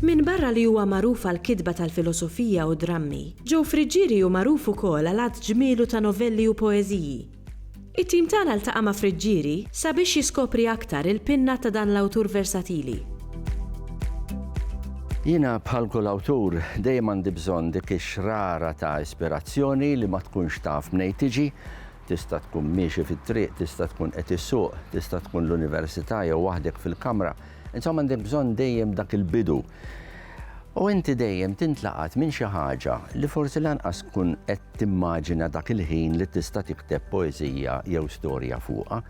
Minbarra li huwa magħruf għal kitba tal-filosofija u drammi, Joe Friggieri hu magħruf ukoll għal għadd ġmielu ta' novelli u poeżiji. It-tim tagħna ltaqa' ma' Friggieri sabiex jiskopri aktar il-pinna ta' dan l-awtur versatili. Jiena bħal kull awtur dejjem għandi bżonn dik ix-xrara ta' ispirazzjoni li ma tkunx taf mnejn tiġi, tista' tkun miexi fit-triq, tista' tkun qed issuq, tista' tkun l-università jew waħdek fil-kamra, Insomma għandek bżonn dejjem dak il-bidu. U inti dejjem tintlaqat minn xi ħaġa li forsi lanqas tkun qed timmaġina dak il-ħin li tista' tikteb poeżija jew storja fuqha,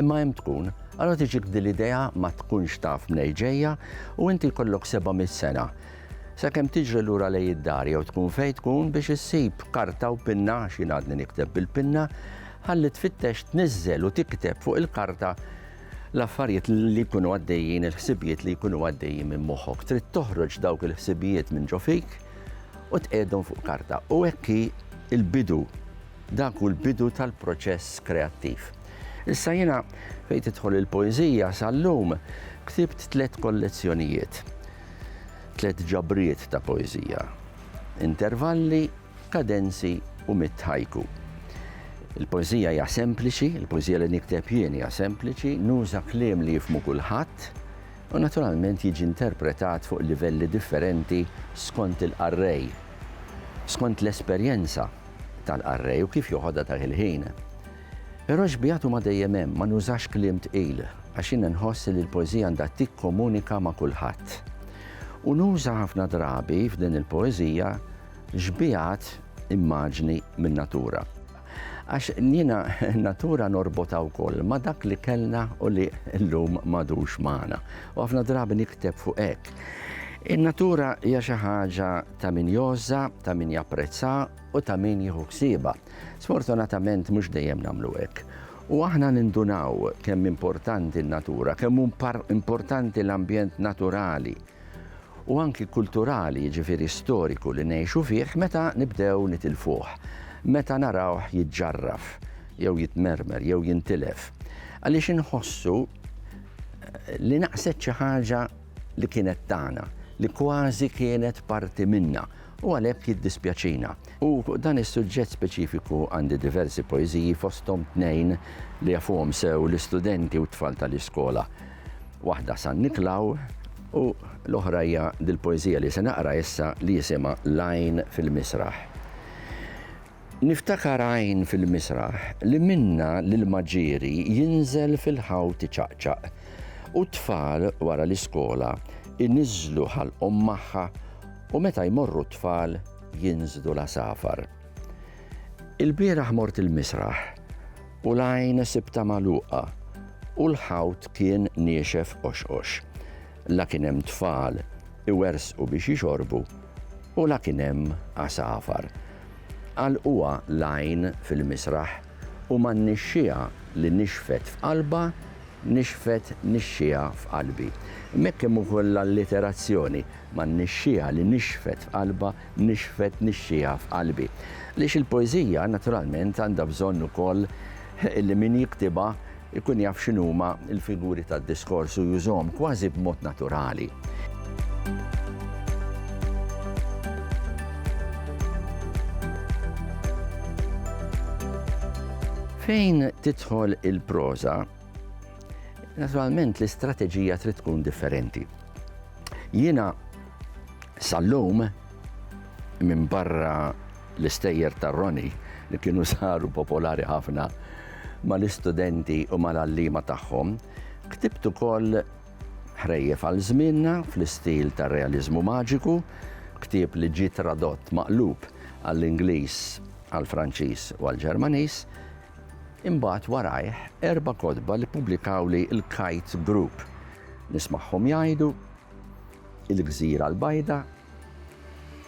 imma hemm tkun. Allora tiġik din l-idea ma tkunx taf mnejn ġejja u inti jkollok 700 sena sakemm tiġri lura lejn id-dar jew tkun fejn tkun biex issib karta u pinna għax jien għadni nikteb bil-pinna, ħalli tfittex tniżżel u tikteb fuq il-karta l-affarijiet li jkunu għaddejjin, il-ħsibijiet li jkunu għaddejjin minn moħħok. Trid toħroġ dawk il-ħsibijiet minn ġo fik u tqegħdhom fuq karta. U hekk il-bidu, dak hu l-bidu tal-proċess kreattiv. Issa jiena fejn tidħol il-poeżija sal-lum ktibt tliet kollezzjonijiet, tliet ġabriet ta' poeżija. Intervalli kadenzi u mitt haiku. Il-poeżija hija sempliċi, il-poeżija li nikteb jien hija sempliċi, nuża kliem li jifhmu kulħadd u naturalment jiġi interpretat fuq livelli differenti skont il-qarrej, skont l-esperjenza tal-qarrej u kif joħodha dak il-ħin. Però xbigħat huma dejjem hemm, ma nużax kliem tqil għax jiena nħoss li l-poeżija għandha tikkomunika ma' kulħadd. U nuża ħafna drabi f'din il-poeżija Xbiehat immaġni min-natura. Għax jiena natura norbotha wkoll ma' dak li kellna u li llum m'għadux magħna. U ħafna drabi nikteb fuq hekk. In-natura hija xi ħaġa ta' min jogħożha, ta' min japprezza u ta' min jieħu ħsiebha. Sfortunatament mhux dejjem nagħmlu hekk. U aħna nindunaw kemm importanti n-natura, kemm importanti l-ambjent naturali. u anki kulturali, jiġifieri storiku li ngħixu fih meta nibdew nitilfuh, meta narawh jiġġarraf jew jitmermer jew jintilef, għaliex inħossu li naqset xi ħaġa li kienet tagħna, li kważi kienet parti minna u għalhekk jiddispjaċina. U fuq dan is-suġġett speċifiku għandi diversi poeżiji fosthom tnejn li jafuhom sew l-istudenti u t-tfal tal-iskola, Waħda San Niklaw u l-oħra hija dil-poeżija li se naqra issa li jisimha L-għajn fil-misraħ. Niftakar għajn fil-misraħ li minnha l-ilma ġieri jinżel fil-ħawt iċaqċaq u t-tfal wara l-iskola iniżżlu ħalqhom magħha u meta jmorru t-tfal jinżlu l-għasafar. Il-bieraħ mort il-misraħ u l-għajn sibtha magħluqa u l-ħawt kien niexef qoxqox. La kien hemm tfal iwerżqu biex jixorbu u la kien hemm għasafar. Għalquha l-għajn fil-misraħ u man-nixxiegħa li nixfet f'qalbha nixfet nixxiegħa f'qalbi. M'hekk hemm ukoll l-alliterazzjoni, man-nixxiegħa li nixfet f'qalbha nixfet nixxiegħa f'qalbi. Għaliex il-poeżija, naturalment, għandha bżonn ukoll li min jiktibha jkun jaf x'inhuma l-figuri tad-diskors u jużhom kważi b'mod naturali. Fejn tidħol il-proża, naturalment l-istrateġija trid tkun differenti. Jiena Sal-lum, minn barra l-istejjer ta' Roni li kienu saru popolari ħafna mal-istudenti u mal-allima tagħhom, ktibt ukoll ħrejjef għal żmienna fl-istil ta' realizmu maġiku, ktieb li ġie tradott maqlub għall-Ingliż, għall-Franċiż u għall-Ġermaniż, imbagħad warajh erba' kotba li ppubblikawli l-Kite Group. Nismagħhom jgħidu il-Gżira l-Bajda,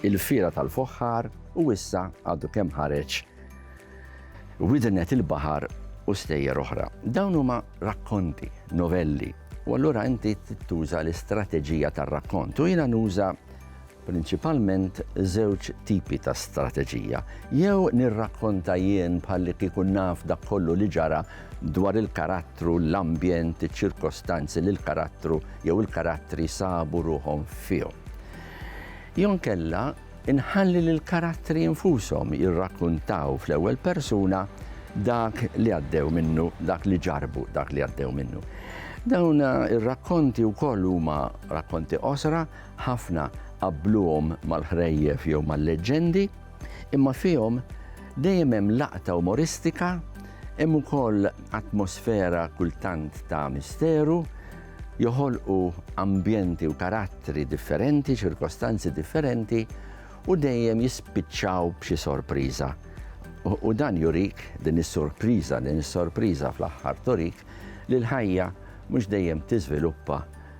il-Fiera tal-Foħħar u issa għadu kemm ħareġ Widnet il-Baħar u stejjer oħra. Dawn huma rakkonti, novelli, u allura inti tuża l-istrateġija tar-rakkont u jiena nuża prinċipalment żewġ tipi ta' strateġija, jew nirrakkonta jien bħallikieku naf dak kollu li ġara dwar il-karattru, l-ambjent, iċ-ċirkostanzi li l-karattru jew il-karattri sabu ruħhom fihom. Jew inkella inħalli lill-karattri infushom jirrakkuntaw fl-ewwel persuna dak li għaddew minnu, dak li ġarbu, dak li għaddew minnu. Dawn ir-rakkonti wkoll huma rakkonti qosra Ħafna qabbluhom mal-ħrejjef jew mal-leġġendi, imma fihom dejjem hemm laqta umoristika, hemm ukoll atmosfera kultant ta' misteru, joħolqu ambjenti u karattri differenti, ċirkostanzi differenti, u dejjem jispiċċaw b'xi sorpriża. U dan jurik din is-sorpriża, din is-sorpriża fl-aħħar turik li l-ħajja mhux dejjem tiżviluppa